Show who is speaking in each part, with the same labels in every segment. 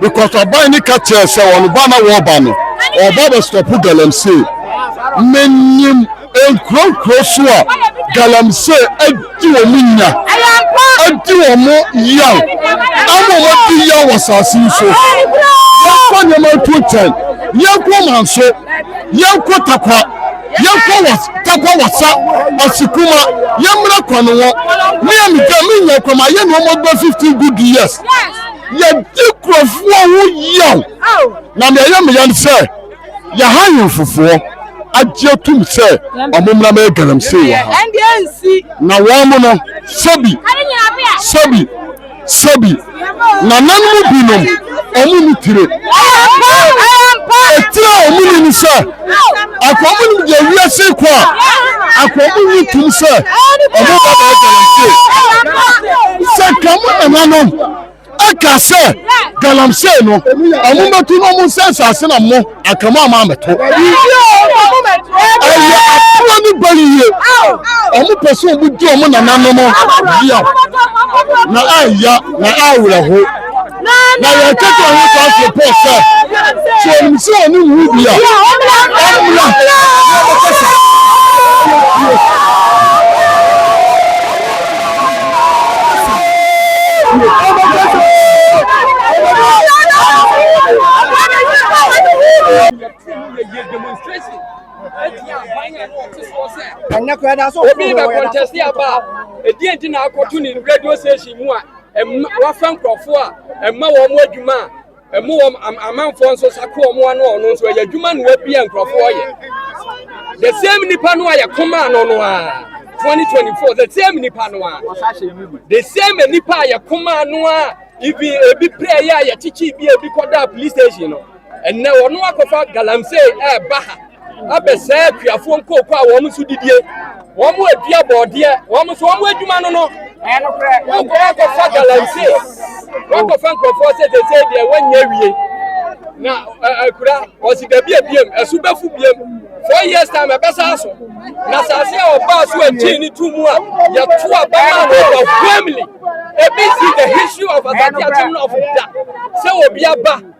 Speaker 1: Because ɔbaa no ka kyerɛɛ sɛ wɔn ba na wɔreba no, ɔba bɛstɔpo galamsey. Menim nkuro nkuro so a galamsey adi wɔn nya, adi wɔn yaw, ama wɔn adi yaw wɔ asase yi so. Yɛnkɔ nneɛma ntu nkyɛn, yɛnkɔ Manso, yɛnkɔ Takwa, yɛnkɔ was, Takwa Wasa, Asikuma, yɛmmra Kwanowɔ. Me a meda me nya kɔ ma yɛ nneɛma bɛ 15 good years. Yɛdi nkurɔfoɔ ho yaw, na nea ɛyɛ me ya ne sɛ, yɛn ahemfofoɔ agye atum sɛ wɔmmra mmɛyɛ galamsey wɔ ha. Na wɔn no, sɛbi, sɛbi, sɛbi, nananom binom, wɔn nni tire. Etire a wɔn nni ne sɛ. Akoa mu nim deɛ wiase kɔ a, akoa mu nyi tum sɛ ɔmo ba bɛyɛ galamsey. Sɛ ka mo nananom ɛka sɛ galamsey no ɔmo mɛtu na ɔmo nsɛ nsase na mo anka mo ama amɛto. Ɛyɛ atorɔ ne bayie. Ɔmo pɛ sɛ ɔmo di ɔmo nananom yaw na ɛya na ɛyɛ awerɛho. Na yɛn kɛtɛ ho taa firi Paul sɛ, sɛ onim sɛ ɔne nwu bi a, ɔmmra na
Speaker 2: ɔbɛkasa. Ɛnyɛ kura da so. Obi bɛ kɔntɛsi aba a, ɛdi nti na akɔto ne radio station mu a. Ɛmma wafa nkurɔfoɔ a ɛmma wɔn adwuma a ɛmo wɔn amanfoɔ nso sako wɔn ano ɔno nso ɛyɛ adwuma na wabia nkurɔfoɔ yɛ the same nipa no a yɛkoma no no a 2024 the same nipa no a the same nipa a yɛkoma no a ibi ebi pray a yɛkyekye bi ebi kɔda police station no. Ɛnnɛ wɔn akɔfa galamsey ɛreba ha abɛsɛe akuafoɔ nkooko a wɔn nso didie. Wɔn adua bɔɔdeɛ, wɔn nso wɔn adwuma no no. Wɔkɔ akɔfa galamsey, wɔkɔfa nkurɔfoɔ sɛ sɛsɛe deɛ wɔnyɛ awie. Na akura wɔsi dabi abiem, ɛso bɛfu biem. Four years time ɛbɛsa so. Na asase a ɔbaa so akyii ne to mu a yɛto abɛma no wɔ family. Ebi si the history of Asante Akyem North da sɛ obi aba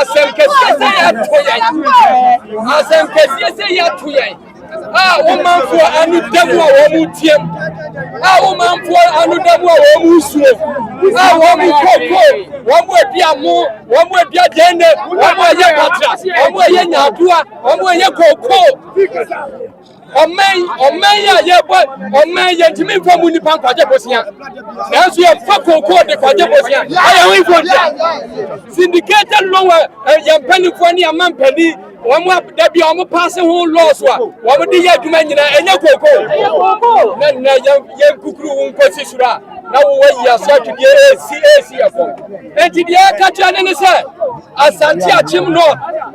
Speaker 2: asɛnkɛseɛ sɛ yɛato yɛn asɛnkɛseɛ sɛ yɛato yɛn a wo manfoɔ ano da mu a wɔn mu team a wo manfoɔ ano da mu a wɔn mu suo a wɔn mu koko wɔn mu adi amo wɔn mu adi adɛnne wɔn mu ɛyɛ patra wɔn mu ɛyɛ nyadoa wɔn mu ɛyɛ koko ɔman yi ɔman yi a yɛbɔ ɔman yi yɛntumi nfa mu nipa nkwagye bosia nanso yɛfa kookoo de kwagye bosia ayɛ ho nkontia syndicated loan wɔ eh, yɛn mpanimfoɔ ne yɛn mampanin wɔn a da bi a wɔn paase ho laws a wɔn de yɛ adwuma nyinaa ɛnyɛ kookoo na na yɛn yɛn kukuru wo nkosi soro a na wowɔ yi aso atwedeɛ esi esi ɛfam nti deɛ ɛka kyerɛ ne ne sɛ asante akyem north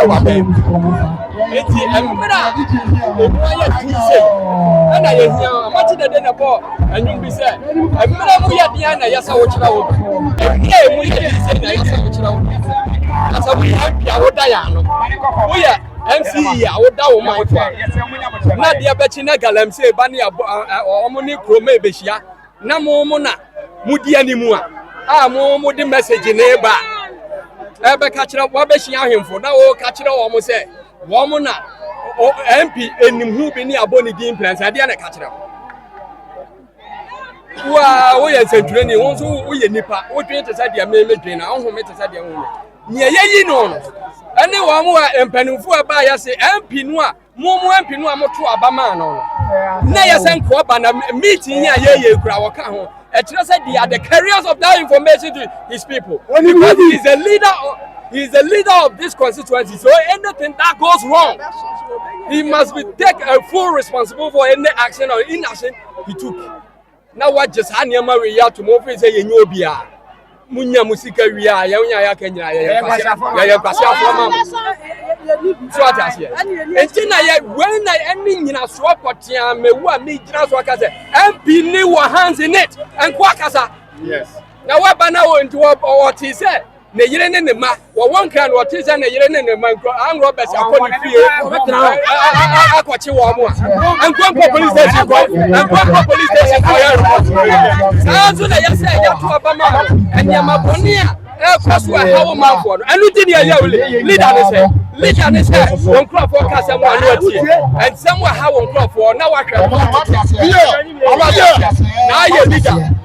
Speaker 2: ɛwɔ abɛn mu. Eti mmerɛ a emu ayɛ fi sei ɛna yɛhia amakye dede na bɔ ɛnwom bi sɛ mmerɛ mu yɛ deɛ na ɛyɛ sɛ wokyerɛ wo mmerɛ mu yɛ deɛ sɛ na ɛyɛ sɛ wokyerɛ wo na sɛ woyɛ mp a woda yɛ ano woyɛ mce a woda wo man fo a na deɛ bɛkye na galamsey ba ne wɔn ne kuroma ɛbɛhyia na mo mo na modi anim a a mo mo de message na eba a ɛbɛka kyerɛ wɔabɛhyia ahemfo na wɔka kyerɛ wɔn sɛ wɔn mo na mp anim ho bi ne abɔ ne din mprɛnsa ɛdeɛ na ɛka kyerɛ wɔn wo a woyɛ nsɛntwerɛni wo nso woyɛ nipa wodwen te sɛ deɛ memedwen na wohome te sɛ deɛ wohome nea yɛyi no no ɛne wɔn a mpanimfoɔ a ɛbaa yɛse mp no a Mo mo ampinu a moto aba maa no no, na ɛyɛ sɛ nkoa ba na meeting yi a yɛyɛ kura wɔka ho. Ɛkyerɛ sɛ they are the carriers of that information to his people because he is the leader of, he is the leader of this constituency. So anything that goes wrong, he must be take a full responsibility for any action or inaction he took. na wagye saa nneɛma wei yi ato mu ofiri sɛ yɛnyɛ obia munya mu sika wie a yɛn nya yɛaka nyinaa yɛyɛ nkwasi afoɔ ma mo so ate aseɛ nti na yɛ wei na ɛne nyinasoɔ pɔtea mɛwu a megyina so aka sɛ mp ne wɔ hands in it nko akasa na waba na wɔ nti wɔte sɛ ne yere ne ne mma wɔwɔ nkran no ɔte sɛ ne yere ne ne mma nkurɔ angrɔ bɛsi akɔ ne fie akɔkye wɔn mu a nkonko police station kɔ nkonko police station kɔ yɛ report saa nso na yɛsɛ yɛto aba ma no nneɛma bɔne a ɛkɔ so ɛha wo manfoɔ no ɛno nti ne ɛyɛ wo leader ne sɛ leader ne sɛ wɔn nkurɔfoɔ ka sɛ mo ano atie ɛnsɛm ɛha wɔn nkurɔfoɔ na wahwɛ mo na ayɛ leader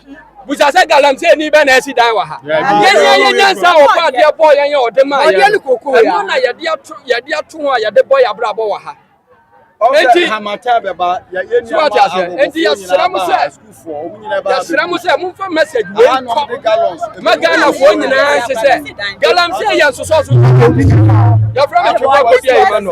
Speaker 2: busa sɛ galamsey ni bɛ na ɛsi dan wɔ ha yɛn yɛn yɛ nyansa a ɔbɔ adeɛ bɔ yɛn yɛ ɔde maa yɛn ɛno na yɛde ato yɛde ato ho a yɛde bɔ yɛ abrabɔ wɔ ha eti so ɔte aseɛ eti yɛsrɛ mo sɛ yɛsrɛ mo sɛ momfa message wei kɔ ma ghanafoɔ nyinaa nse sɛ galamsey yɛ nsosɔ so yɛfrɛ me twekɔ kɔbia yi ma no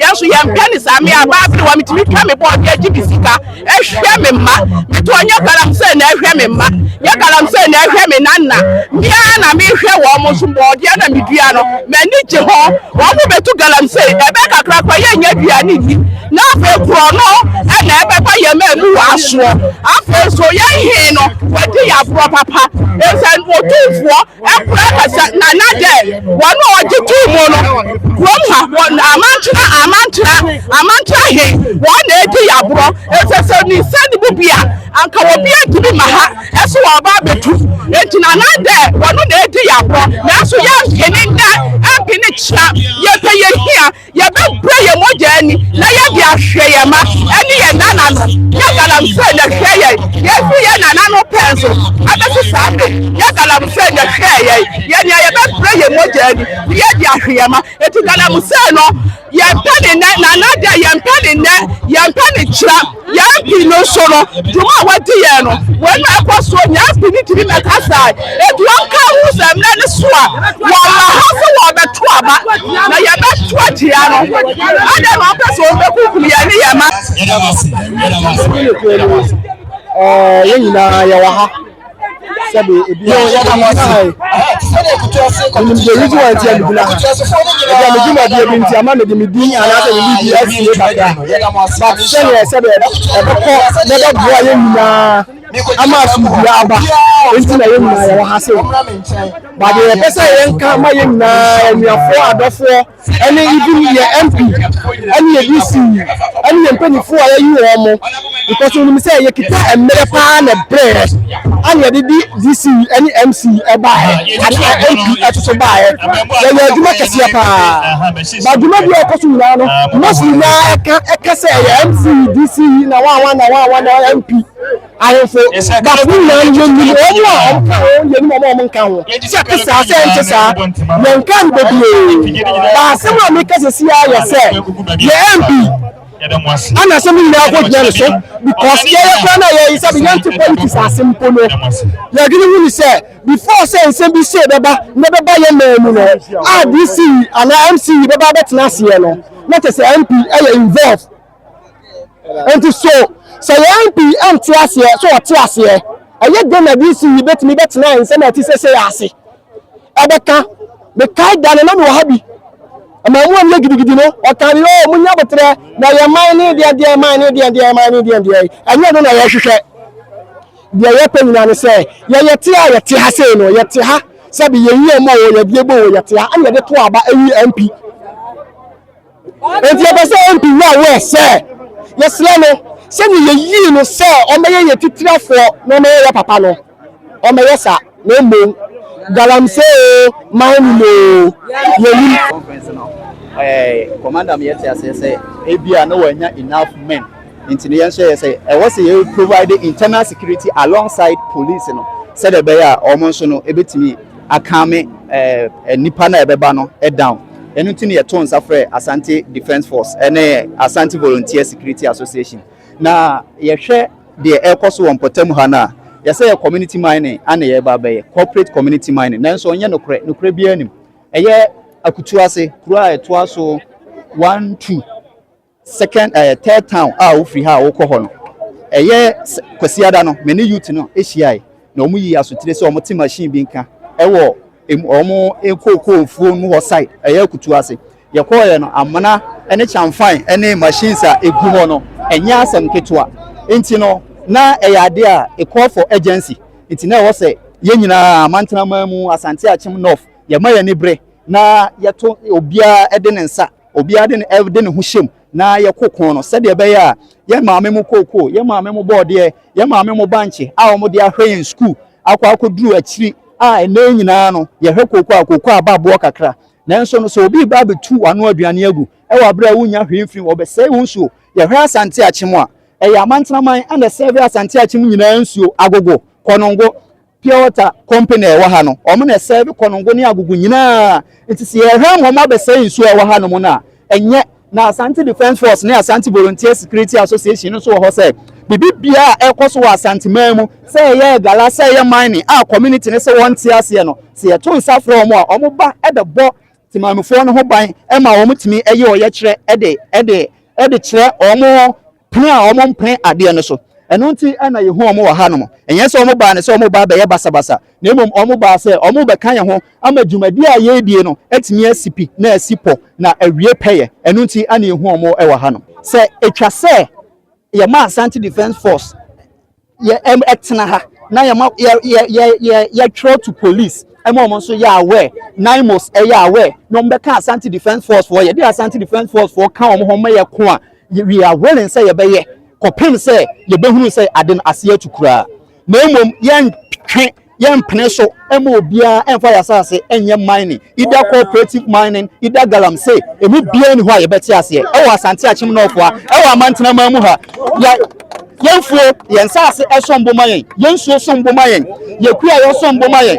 Speaker 2: Yɛn nso yɛmpɛ ne saa. Me a, baa bere wa metumi twa me bɔɔl de agye me sika, hwɛ me mma. Me toɔ nyɛ galamsey na ɛhwɛ me mma, nyɛ galamsey na ɛhwɛ me nanna. Me ara na mehwɛ wɔn nso. Borɔdeɛ na medua no, m'ani gye ho. Wɔbɛtu galamsey, ɛbɛyɛ kakra koraa yɛnnya aduane nni. Na afei korɔno na ɛbɛba yɛn mmamu wɔ asoɔ. Afei nso yɛn he no, wadi yɛn aborɔ papa. Enti sɛ Otumfoɔ
Speaker 3: Ɛmpra kasa na na dɛ wɔn a wɔgye too mu no kurom ha wɔ amantra amantra amantra he wɔn na edi yaborɔ efisɛ sɛ ni nsa ne mu bi a anka obi antumi ma ha ɛso wɔba abetu nti na na dɛ wɔn na edi yaborɔ nanso yɛmpene nnɛ ɛmpene kyena yɛpɛ yɛhia Yɛbɛbrɛ yɛn mogya ani na yɛde ahwɛ yɛn mma ne yɛn nananom. Yɛ galamsey na hwɛ yɛn. Yɛafi yɛn nananom pɛn so abɛto saa bere yi. Yɛ galamsey na hwɛ yɛn. Yɛ nea yɛbɛbrɛ yɛn mogya ani na yɛde ahwɛ yɛn mma. Enti galamsey no, yɛmpɛ ne nnɛ, na anadɛ, yɛmpɛ ne nnɛ, yɛmpɛ ne kyerɛ. Yɛn pi no so no, dwuma a wɔadi yɛn no, wei na ɛkɔ soɔ, nea pi no tumi bɛka saa, aduɔm ka ho sɛ mmerɛ no so a wɔwɔ hɔ sɛ wɔrebɛto aba, na yɛbɛto atia no, adɛn na wɔpɛ sɛ wɔbɛkunkum yɛn ne yɛn mma? Yɛda wo ase, yɛda wo ase, yɛda wo
Speaker 4: ase. Ɛɛ, yɛn nyinaa yɛwɔ ha. sɛbi ebi a yɛda mo ase sɛdeɛ kutu ase kɔmpitin yɛ reason why nti ɛmegyina ha ɛdi a medwuma deɛ bi nti ama mede me din anaasɛ me biribi asie kakra but sɛdeɛ sɛdeɛ ɛbɛkɔ na ɛbɛboa yɛ nyinaa ama asomdua aba nti na yɛ nyinaa yɛwɔ ha sɛ but deɛ yɛpɛ sɛ yɛnka ma yɛ nyinaa anuafoɔ adɔfoɔ ɛne even yɛ MP ɛne yɛ DC ɛne yɛ mpanyinfoɔ a yɛyi wɔn mo because onim sɛ yɛkita mmerɛ paa na ɛbrɛ ɛne yɛde di DC ɛne MC ɛbaeɛ ɛne MP ɛtoto baeɛ yɛyɛ adwuma kɛseɛ paa ba adwuma bi a ɛkɔ so nyinaa no most nyinaa ɛka ɛka sɛ ɛyɛ MC DC na wawa na wawa na MP ahemfo baafo no nyinaa no yɛnim wɔn a wɔka ho yɛnim wɔn a wɔnka ho sɛ ɛte saa sɛ ɛnte saa yɛnka no bebree na asɛm a meka sɛsi a yɛ sɛ yɛ mp ana asɛm no nyinaa kɔgyina no so because yɛyɛ kora no a yɛyi sɛ yɛnte politics ase mpo no yɛdwene hu ne sɛ before sɛ nsɛm bi sei bɛba na bɛba yɛ maa mu no a dc anaa mce bɛba bɛtena aseɛ no na kyɛ sɛ mp ɛyɛ involve Enti so sɛ yɛn mu pii nte aseɛ? So wɔte aseɛ? Ɛyɛ dɛn na DC yi bɛtumi bɛtena nsɛm a ɛte seesei ase? Ɛbɛka. Mekae da no, na mewɔ ha bi. Amammuam yɛ gidigidi no, ɔkaa me, Oo, monyɛ aboterɛ, na yɛn man ne deɛ deɛ man ne deɛ deɛ man ne deɛ deɛ. Ɛnyɛ ɛno na yɛhwehwɛ. Deɛ yɛpɛ nyinaa ne sɛ yɛyɛ te a yɛte ha sei no, yɛte ha sɛbe yɛn yam o, yɛdeɛ bɔ o, yɛte ha, ɛna yɛde to aba, ɛyi MP. Enti yɛpɛ sɛ MP Wura Ware sɛ yɛsrɛ no sɛdeɛ yɛyii no sɛ ɔmmɛyɛ yɛn titirafoɔ na ɔmmɛyɛ yɛn papa no, ɔmmɛyɛ saa na mmom Galamsey oo, Mining oo, yɛnnim. Conference no ɛɛ
Speaker 5: commander mi yɛte aseɛ sɛ ebia na wɔanya enough men nti no yɛnso yɛyɛ sɛ ɛwɔ sɛ yɛ provide internal security alongside police no sɛdeɛ ɛbɛyɛ a wɔn nso no ebetumi akame ɛɛ nipa no a ɛbɛba no down. Ɛno nti na yɛtoo nsa frɛɛ Asante Defence Force ne Asante Volunteer Security Association. Na yɛhwɛ deɛ ɛrekɔ so wɔ mpɔtam ha no a, yɛsɛ yɛ community mining ana yɛreba abɛyɛ, corporate community mining. Nanso ɛnyɛ nokorɛ, nokorɛ biara nnim. Ɛyɛ Akutuase, kuro a ɛtoa so one, two. Second ɛɛ third town a wofiri ha a wokɔ hɔ no, ɛyɛ Kwasiada no me ne youth no hyiae na wɔn yii asotire sɛ wɔn te machine bi nka ɛwɔ emu wɔn nkookoo mfuo mu hɔ side ɛyɛ akutuo ase. Yɛkɔɔeɛ no amena ɛne kyanfan ɛne machines a egu hɔ no ɛnyɛ asɛm ketewa nti no na ɛyɛ adeɛ a it call for urgency nti na ɛwɔ sɛ yɛn nyinaa Mantena man mu Asante Akyem North yɛma yɛn ani bere na yɛto obiara de ne nsa obiara de ne de ne ho hyɛm na yɛko ko no sɛdeɛ ɛbɛyɛ a yɛ maame mo kookoo yɛ maame mo bɔɔdeɛ yɛ maame mo bankye a wɔn de ahwɛ yɛn sukuu akɔ akɔduru akyiri a ɛnɛ nyinaa no yɛhwɛ kookoo a kookoo aba aboɔ kakra nanso no sɛ obi ba abɛtu wano aduane agu ɛwɔ abere a wonya hwee mfiri wɔbɛsɛe wo nsuo yɛhwɛ asante akyem a ɛyɛ amantenaman ɛna sɛve asante akyem nyinaa nsuo agogo kɔnongo Pure water company a ɛwɔ ha no, wɔn na ɛsɛɛve Konongo ne Agugu nyinaa. Nti sɛ yɛhwɛ wɔn abɛsɛe nsuo a ɛwɔ hanom no a, ɛnyɛ. Na Asante Defence Force ne Asante Volunteer Security Association no nso wɔ hɔ sɛ biribiara a ɛrekɔ so wɔ Asanteman mu, sɛ ɛyɛ agala, sɛ ɛyɛ mining a community no sɛ wɔnte aseɛ no, sɛ yɛto nsa frɛ wɔn a, wɔba bɛbɔ Temamufoɔ no ho ban ma wɔtumi yɛ ɔyɛkyerɛ de kyerɛ wɔn pene a wɔmpene adeɛ no so. Ɛno nti na yɛhu wɔn wɔ hanom. Ɛnyɛ sɛ wɔbaa no sɛ wɔreba abɛyɛ basabasa, na mmom wɔbaa sɛ wɔrebɛka yɛn ho ama dwumadie a yɛredie no atumi asi pi na asi pɔ na awie pɛyɛ. Ɛno nti na yɛhu wɔn wɔ hanom. Sɛ ɛtwa sɛ yɛma Asante Defence Force yɛ ɛm ɛtena ha na yɛ ma yɛ yɛ yɛ yɛ yɛtwerɛ to police ɛma wɔn nso yɛ aware naimos ɛyɛ aware na wɔn bɛka asante defence force foɔ yɛde asante defence force foɔ ka wɔn ho ma yɛ ko a we are willing sɛ yɛbɛyɛ kɔpem sɛ yɛbɛhunu sɛ ade no aseɛ atu koraa na mmom yɛntwe Yɛmpene so mma obiara mfa yɛn asase nyɛ mining, either cooperative mining, either galamsey, ɛmu biara nni hɔ a yɛbɛte aseɛ wɔ Asante Akyem Nɔfoa wɔ Amantena man mu ha. Yɛ, yɛn mfuo, yɛn nsase som bo ma yɛn, yɛn nsuo som bo ma yɛn, yɛn kuayɔ som bo ma yɛn.